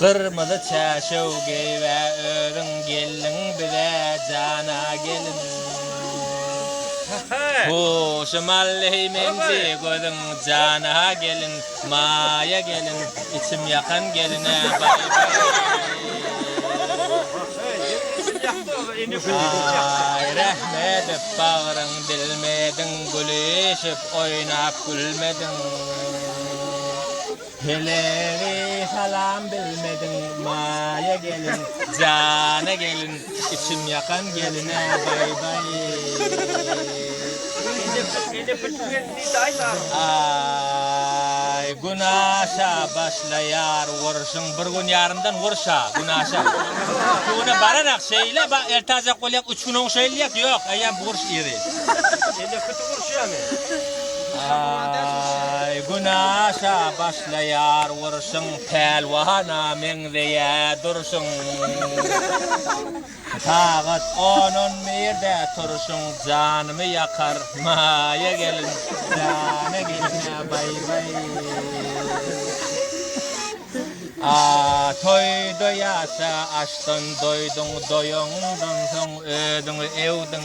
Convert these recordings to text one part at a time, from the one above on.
Gyrmyzy çäşew geýibe özüň gelniň bize jana gelin Huşy malleý meňzi gözüň jana gelin Maýa gelin içim ýakan geline baý Aý rehmedip bagryň dilmediň gülüşip oýnap gülmediň. Helegi salam bilmediň Maýa gelin Jana gelin içim ýakan geline baý baý Günaşa başlaýar urşuň bir gün ýarymdan urşa günaşa Üstüne bararak şeýle bak ertajak bolýak üç gün oň şeýle diýýäk ýok eýýäm urş ýeri. Aý, gün aşa başlaýar urşuň, Pälwana meňzeýä durşuň. Sagat on-on birde turşuň, Janymy ýakar maýa gelin, Jana gelin-ä baý-baý. A, toýda ýasa, aşdan doýduň, Doýaňdan soň özüňi öwdüň.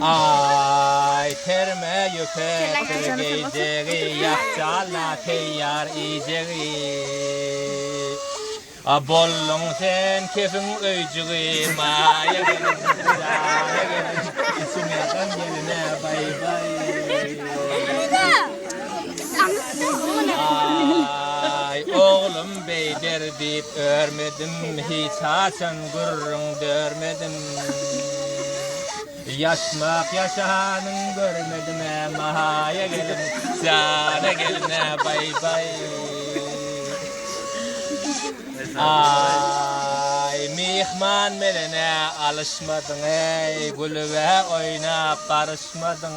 Aý, terme ýüpekdir geýjegi, Ýapjalla teýýar iýjegi. A bolduň sen kefiň öýjügi, Maýagül, jaýagül, Içime gam gelene baý-baý. Aý, oglum beýder diýip örmedim, Hiç haçan gürrüň dörmedim. Ýatmak ýaşanyň görmedim-ä Mahaýa gelin, Jana gelin-ä baý-baý. Aý, myhman bilen-ä alyşmadyň-eý, Gülüb-ä oýnap baryşmadyň.